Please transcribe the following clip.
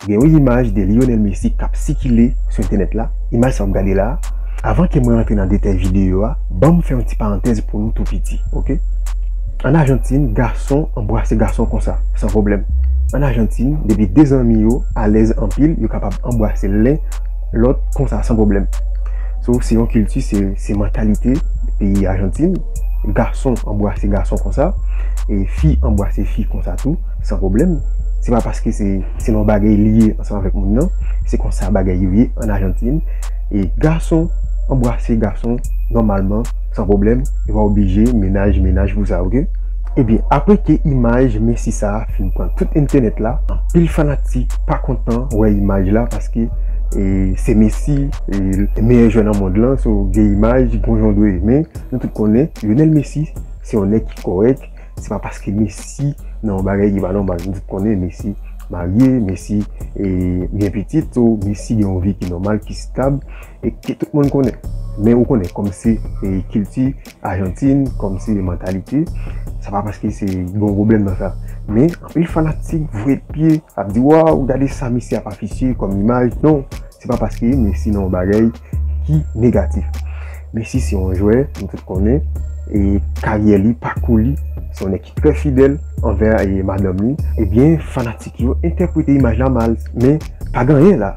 Gen yon imaj de Lionel Messi kap sikile sou entènèt la, imaj sa wap gade la, avan ke mwen antre nan detay videyo a, banm fè yon ti parantèz pou nou tou piti ok. An Ajantin gason anbrase gason konsa san pwoblèm. An Ajantin depi 2 zanmi yo alèz anpil yo kapab anbrase len lòt konsa san pwoblèm. So se yon kilti se mantalite peyi Ajantin, gason anbrase gason konsa e fi anbrase fi konsa tou. San pwoblèm, se pa paske se selon bagay li ye ansanm avèk moun nan, se konsa bagay yo ye an Ajantin, e gason anbrase gason nòmalman san pwoblèm, e pa oblije mennaj mennaj pou sa ok. Ebyen apre ke imaj Messi sa fin pran tout entènèt la, anpil fanatik pa kontan wè imaj la paske se Messi meyè jwè nan mond lan so gen imaj gon jan w dwe men nou tout konnen Lionel Messi se yon nèg ki kòrèk Se pa paske Messi nan yon bagay ki pa nòmal, nou tout konnen Messi marye, Messi gen pitit, so Messi gen yon vi ki nòmal, ki stab, e ke tout moun konnen. Men ou konnen, kòm se kilti Ajantin, kòm se mantalite, se pa paske se yon pwoblèm nan sa. Men, anpil fanatik voye pye, ap di waw, gade sa Messi ap afisye kòm imaj, non! Se pa paske Messi nan yon bagay ki negatif. Messi se yon jwè, nou tout konnen, e karyè li, pakou li, se yon nèg ki trè fidèl anvè madanm li. Ebyen, fanatik yo entèprete imaj la mal. Men, pa gen anyen la.